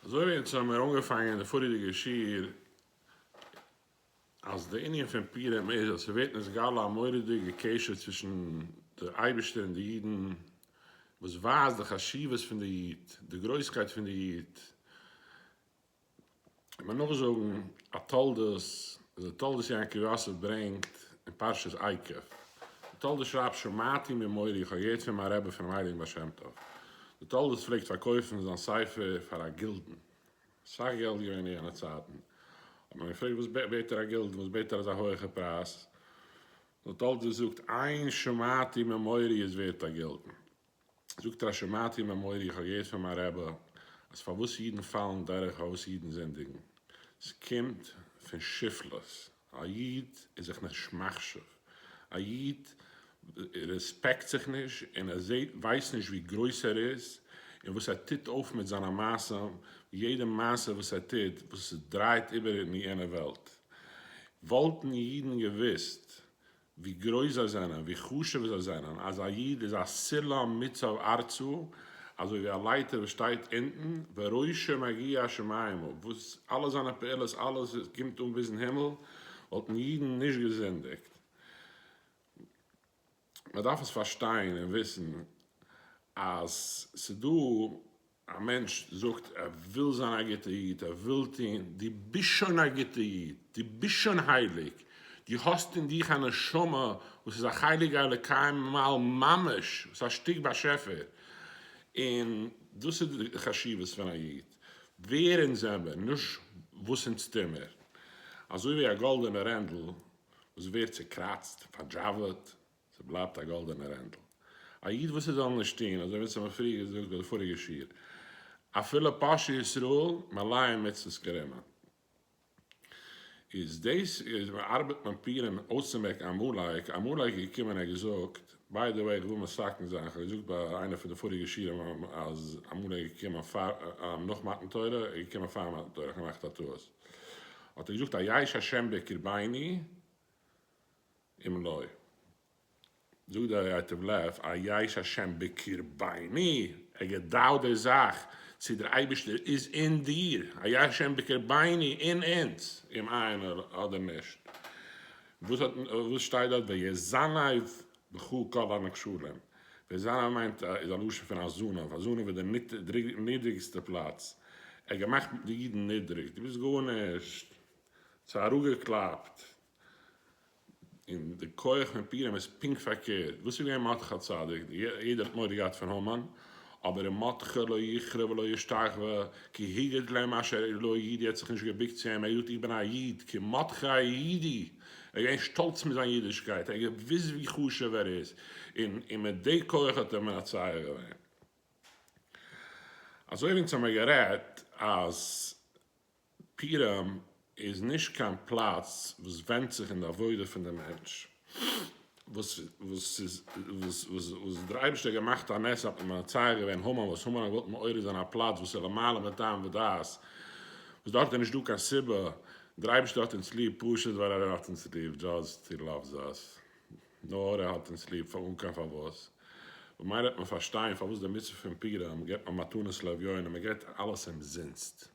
אזוי ווי אונז האבן מיר אנגעפאנגען די פאריעריגע שיעור אז די ענין פון פורים איז אז ס'ווערט נתגלה א מורא'דיגע קשר צווישן די אייבישטער און די אידן וואס ווייזט די חשיבות פון די איד, די גרויסקייט פון די איד, מען נאך זאגן א תולדות, די תולדות יעקב יוסף ברענגט אין פרשת עקב, די תולדות שרייבט שמעתי ממורי איך האב געהערט פון מיין רבי פונעם הייליגן בעל שם טוב, די תולדות פלעגט פארקויפן זיין ספר פאר א גילדן, סאך געלט געווען אין יענע צייטן, האט מען געפרעגט וואס בעט ער א גילדן, וואס בעט ער אזא הויעכע פרייז, די תולדות זאגט איין שמעתי ממורי איז ווערט א גילדן. זאגט ר' שמעתי ממורי איך האב געהערט פון מיין רבי אז פארוואס אידן פאלן דורך פארוואס אידן זינדיגן סקומט פון שפלות א איד איז זיך נישט מחשיב א איד רעספעקט זיך נישט און ער זעהט ווייסט נישט ווי גרויס ער איז און וואס ער טוט אויף מיט זיינע מעשים יעדע מעשה וואס ער טוט וואס דרייט איבער אין יענע וועלט וואלטן אידן געוויסט ווי גרויס זיי זענען, ווי חשוב זיי זענען, אז א איד איז א סולם מצב ארצו, אזוי ווי א לייטער וואס שטייט אונטן, וראשו מגיע השמיימה, וואס אלע זיינע פעולות, אלעס קומט אן ביזן הימל, וואלטן אידן נישט געזינדיגט. מען דארף עס פארשטיין און וויסן אז ס'דא א מענטש זאגט ער וויל זיין א גוטע איד, ער וויל טון, דו ביסט שוין א גוטע איד, דו ביסט שוין הייליג, דו האסט אין דיך א נשמה וואס איז א חלק האלוקי ממעל ממש, וואס איז א שטיק באשעפער, און דאס איז די חשיבות פון א איד, ווער אונז זעמער, נישט וואס אונז טומער, אזוי ווי א גאלדענע רענדל וואס ווערט צוקראצט, פארדזשאוועט, ס'בלייבט א גאלדענע רענדל. א איד וואס ער זאל נישט טון, אזוי ווי עס האט מען פריער געזאגט ביי די פאריגע שיעור, אפילו פרשת ישראל, מלאים מצוות כרימה, איז דאס איז ארבעט מען פירען אויסצומעקן עמלק, עמלק איז געקומען ער האט געזאגט, ביי די וועי איך וויל מסכם זיין, איך האב געזאגט ביי איינע פון די פאריגע שיעורים אז עמלק איז געקומען פאר נאך מתן תורה, ער איז געקומען פאר מתן תורה, איך האב געמאכט א טעות, האט ער געזאגט א ייש השם בקרביני, אומנוי. זאגט דער ייטב לב א יש השם בקרביני, ער געדאוט די זאך צי דער אייבערשטער איז אין דיר, א יש השם בקרביני, אין אונז, אום איין אדער נישט. וואס שטייט דארט ויזנב בכה כל הנחשלים, ויזנב מיינט איז א לשון פון א זנב, א זנב איז די נידריגסטע פלאץ, ער האט געמאכט די אידן נידריג, דו ביסט גארנישט, ס'האט אראפגעקלאפט. און די כח פון פורים איז פונקט פארקערט, וואס איז געווען מרדכי הצדיק? יעדער האט מורא געהאט פון המן, אבער ר' מרדכי לא יכרע ולא ישתחווה, כי הגד להם אשר איד לא איד, ער האט זיך נישט געבוקט צו אים, ער האט געזאגט איך בין א איד, כי מרדכי אידי, ער איז געווען שטאלץ מיט זיין אידישקייט, ער האט געוואוסט ווי חשוב ער איז, און און מיט די כח האט ער מנצח געווען. אזוי ווי אונז האמיר גערעדט אז. פירעם איז נישט קיין פלאץ וואס ווענדט זיך אין די עבודה פון די מענטש, וואס דער אייבערשטער האט געמאכט א נס אז מען האט מצער געווען המן, וואס המן האט געוואלט מעורר זיין א פלאץ וואס איז למעלה מטעם ודעת, וואס דארט איז נישט דא קיין סיבה, דער אייבערשטער האט אונז ליב פשוט ווייל ער האט אונז ליב, דזשאסט הי לאווס אס, נאר ער האט אונז ליב אן קיין פארוואס, ממילא וועט מען פארשטיין פארוואס די מצוה פון פירעם געבט מען מתנות לאביון און מען געבט אלעס אומזינסט.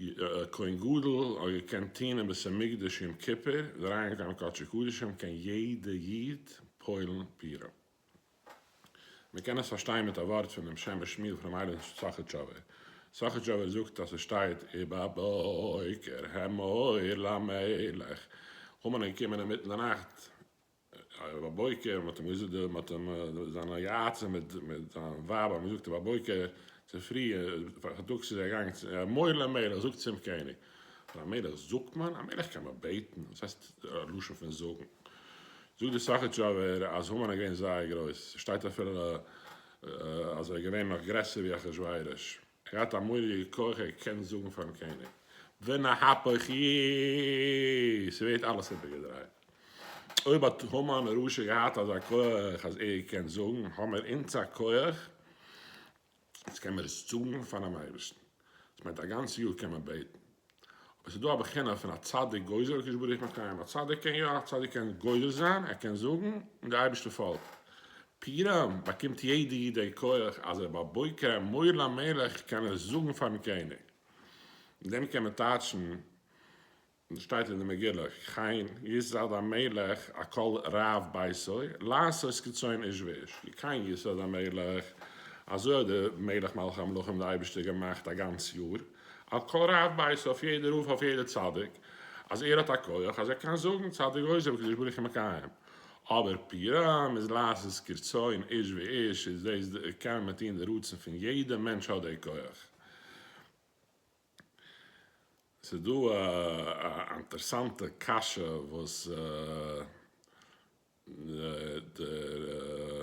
א כהן גדול האט געקענט טוהן אין בית המקדש יום כיפור און אריינגיין אין קדשי קדשים קען יעדע איד פועל'ן פירען. מען קען עס פארשטיין מיט א ווארט פון דעם שם משמיל פונעם אייבערשטן סאכאטשאווער. סאכאטשאווער זאגט אז עס שטייט ובבוקר העמוד למלך המן איז געקומען אינמיטן די נאכט רב בויקער, מען האט אים געזאגט, מען האט אים, זיין א יאצע מיט זיין ווייב האבן געזאגט רב בויקער צופרי פארטאגס איז ער געגאנגען צו א מוהל א מלך זאגט צום קעניג, פאר א מלך זאגט מען? א מלך קען נאר בעטן, וואס הייסט א לשון פון זאגן? זאגט דער סאכאטשאווער אז המן איז געווען זייער גרויס, ס'שטייט אפילו אז ער איז געווען נאך גרעסער ווי אחשורוש. ער האט א מורא'דיגע כח ער קען זאגן פארן קעניג ונהפוך י ס'ווערט אלעס איבערגעדרייט, אויב האט המן הרשע געהאט אזא כח אז ער קען זאגן האמער אונז א כח אז קען מיר עס זאגן פארן אייבערשטן, דאס מיינט א גאנץ יאר קען מען בעטן אבער ס'איז דא א בחינה פון א צדיק גוזר הקדוש ברוך הוא מקיים, א צדיק קען יא, א צדיק קען גוזר זיין, ער קען זאגן און דער אייבערשטער פאלגט, פירעם באקומט יעדע איד דער כח אז ער בבוקר אמור למלך קען ער זאגן פארן קעניג, מיט דעם קען מען טייטשן וואס שטייט אין די מגילה, כן יסד המלך על כל רב ביתו לעשות כרצון איש ואיש, כי כן יסד המלך, אזוי האט דער מלך מלכי המלכים דער אייבערשטער געמאכט א גאנץ יאר, א קרב בית אויף יעדע רב אויף יעדע צדיק אז ער האט א כח אז ער קען זאגן צד דגוזם קדוש ברוך הוא מקיים אבער פירם איז לעשות כרצון איש ואיש איז דאס קען מען טון די רצון פון יעדע מענטש האט די כח. ס'איז דא א אינטערסאנטע קשיא וואס דער.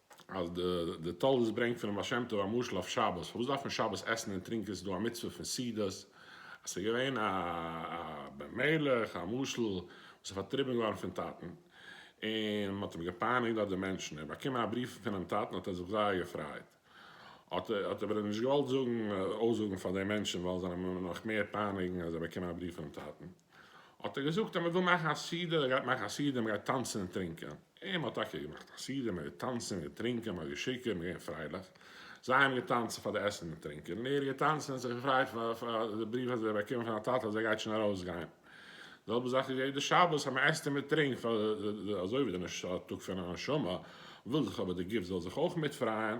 אז די תולדות ברענגט פונעם בעל שם טוב א משל אויף שבת, פארוואס דארף מען שבת עסן און טרינקען, ס'איז דא א מצוה פון סעודות, אז ס'איז געווען א בן מלך, א משל, וואס איז פארטריבן געווארן פון טאטן, און מ'האט אים געפייניגט דארט די מענטשן, ער האט באקומען א בריוו פונעם טאטן האט ער זיך זייער געפרייט, האט ער אבער נישט געוואלט זאגן, אויסזאגן פאר די מענטשן, ווייל זיי זאלן אים נאך מער פייניגן, אז ער האט באקומען א בריוו פונעם טאטן. האט ער געזאגט אז מען וויל מאכן א סעודה, ער גייט מאכן א סעודה, מען גייט טאנצן און טרינקען. און מען האט טאקע געמאכט א סעודה, מען איז געטאנצן, מען איז געטרינקען, מען האט געשיקערט, מען איז געווען פרייליך. זיי האבן געטאנצן פאר די עסן און טרינקען, און ער האט געטאנצן און זיך געפרייט פאר פאר די בריוו וואס ער האט באקומען פון א טאטע אז ער גייט שוין ארויסגיין. די זעלבע זאך איז יעדע שבת אז מען עסט און מען טרינקט פאר די, אזוי ווי די נשמה, טאג פון א נשמה, וויל זיך אבער די גוף זאל זיך אויך מיטפרייען.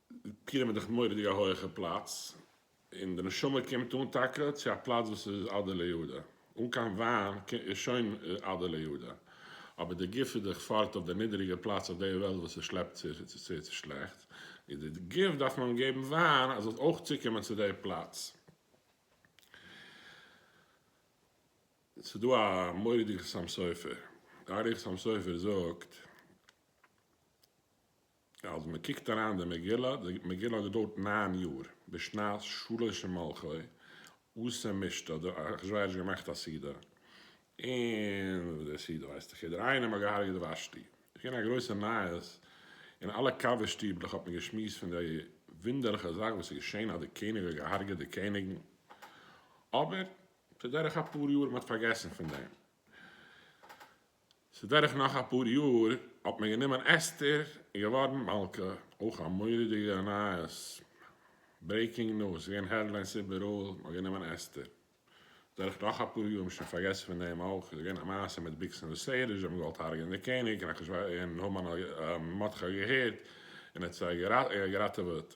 פירן מיר דאך מורא'דיג א הויעכע פלאץ, און די נשמה קומט אן טאקע צו א פלאץ וואס איז עדה ליהודה, אן קיין וויין איז שוין עדה ליהודה, אבער די גוף איז דאך פארט אויף די נידעריגע פלאץ אויף די וועלט וואס עס שלעפט זיך און ס'איז צו שלעכט, איז די גוף דארף מען געבן וויין אז זאל אויך צוקומען צו די פלאץ. ס'איז דא א מורא'דיגע סם סופר, די אריכות סם סופר זאגט. אז מען קוקט אריין אין די מגילה, די מגילה האט געדויערט ניין יאר, בשנת שלש למלכו, וואס אין משתה האט דער אחשורוש געמאכט א סעודה, און די סעודה ווייסט דאך יעדער איינער, מען האט געהארגעט ושתי, עס איז געווען א גרויסע נייעס, אין אלע קאווע שטיבלעך האט מען געשמועסט פון די וואונדערליכע זאך וואס איז געשען אז די קעניג האט געהארגעט די קעניגן, אבער כדרך אפאר יאר מען האט פארגעסן פון דעם. ס'איז דורך נאך אפאר יאר האט מען גענומען אסתר און געווארן מלכה, אויך א מורא'דיגע נייעס, ברעיקינג ניוז, ס'איז געווען העדליינס איבעראל, מ'האט גענומען אסתר, דורך נאך אפאר יאר, מ'האט שוין פארגעסן פון דעם אויך, איז געווען א מעשה מיט ביקס און וסעדות, זיי האבן געוואלט הרג'ענען די קעניג, און המן האט געהערט און ער האט זיי געראטעוועט.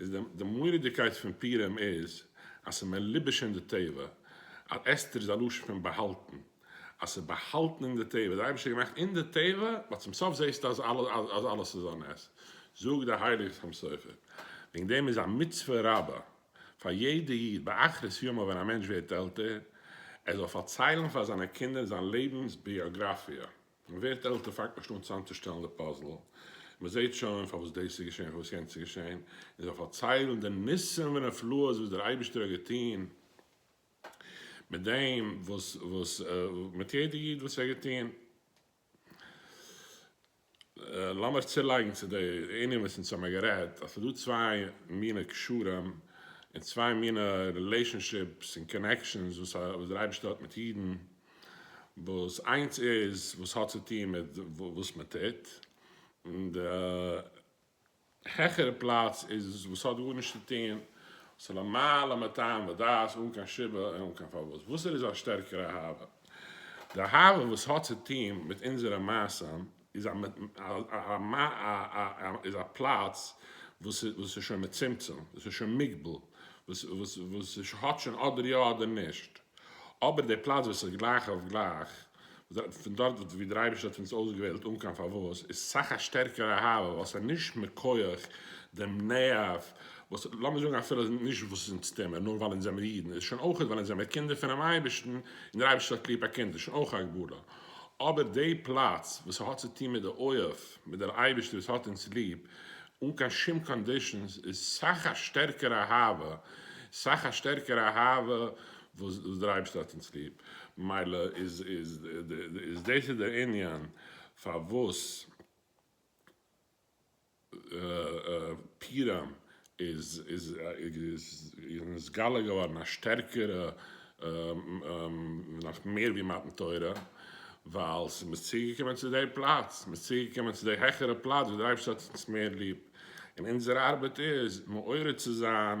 איז די די מורא'דיגקייט פון פורים איז אז ס'איז מלובש אין די טבע, אז אסתר איז א לשון פון באהאלטן, אז ס'איז באהאלטן אין די טבע, די אייבערשטער האט געמאכט אין די טבע, ווייל צום סוף זעסטו אז אז אלעס איז א נס, זאגט דער הייליגער חתם סופר, וועגן דעם איז א מצוה רבה פאר יעדע איד באחרית ימיו ווען א מענטש ווערט עלטער, ער זאל פארציילן פאר זיינע קינדער זיין לעבנס ביאגראפיע. מען ווערט עלטער פאנגט מען שוין אן צוזאמצושטעלן די פאזל, און מען זעט שוין פארוואס דאס איז געשען פארוואס יענץ איז געשען, און זיי פארציילן די ניסים ונפלאות וואס דער אייבערשטער האט געטון מיט דעם וואס וואס מיט יעדע איד וואס ער האט געטון. לאמיר צולייגן צו די ענין וואס אונז האמיר גערעדט אז ס'איז דא צוויי מיני קשרים און צוויי מיני רילעישאנשיפס און קאנעקשאנס וואס דער אייבערשטער האט מיט אידן, וואס איינס איז וואס האט צו טון מיט וואס מען טוט, און די העכערע פלאץ איז וואס האט גארנישט צו טון, וואס איז למעלה מטעם ודעת, אן קיין סיבה און אן קיין פארוואס. וואסער איז א שטערקערע אהבה? די אהבה וואס האט צו טון מיט אונזערע מעשים, איז א פלאץ וואס איז שוין מצומצם, וואס איז שוין מוגבל, וואס האט שוין אדער יא אדער נישט, אבער די פלאץ וואס איז גלייך אויף גלייך, פון דארט ווי דער אייבערשטער האט אונז אויסגעוועלט אן קיין פארוואס, איז סאך א שטערקערע אהבה, ווייל ס'איז נישט מכח דעם נערוו, וואס לאמיר זאגן אפילו נישט ווייל ס'איז אונז טומאה, נאר ווייל אונז זעמיר אידן, איז שוין אויך ווייל אונז זעמיר קינדער פונעם אייבערשטן, און דער אייבערשטער האט ליב א קינד, איז שוין אויך א גבורה. אבער די פלאץ וואס ס'האט צו טון מיט די אוהב, מיט דער אייבערשטער וואס האט אונז ליב אן קיין שום קאנדישאנס, איז סאך א שטערקערע אהבה, סאך א שטערקערע אהבה וואס דער אייבערשטער האט אונז ליב, מילא איז דאס איז דער ענין פארוואס. פּורים איז נתגלה געוואָרן אַ שטערקערע, נאָך מער ווי מתן תורה, ווייל ס'איז מיר צוגעקומען צו דער פּלאַץ, מ'איז צוגעקומען צו דער העכערער פּלאַץ וואָס דער אייבערשטער האָט אונז מער ליב, און אונזער אַרבעט איז מעורר צו זיין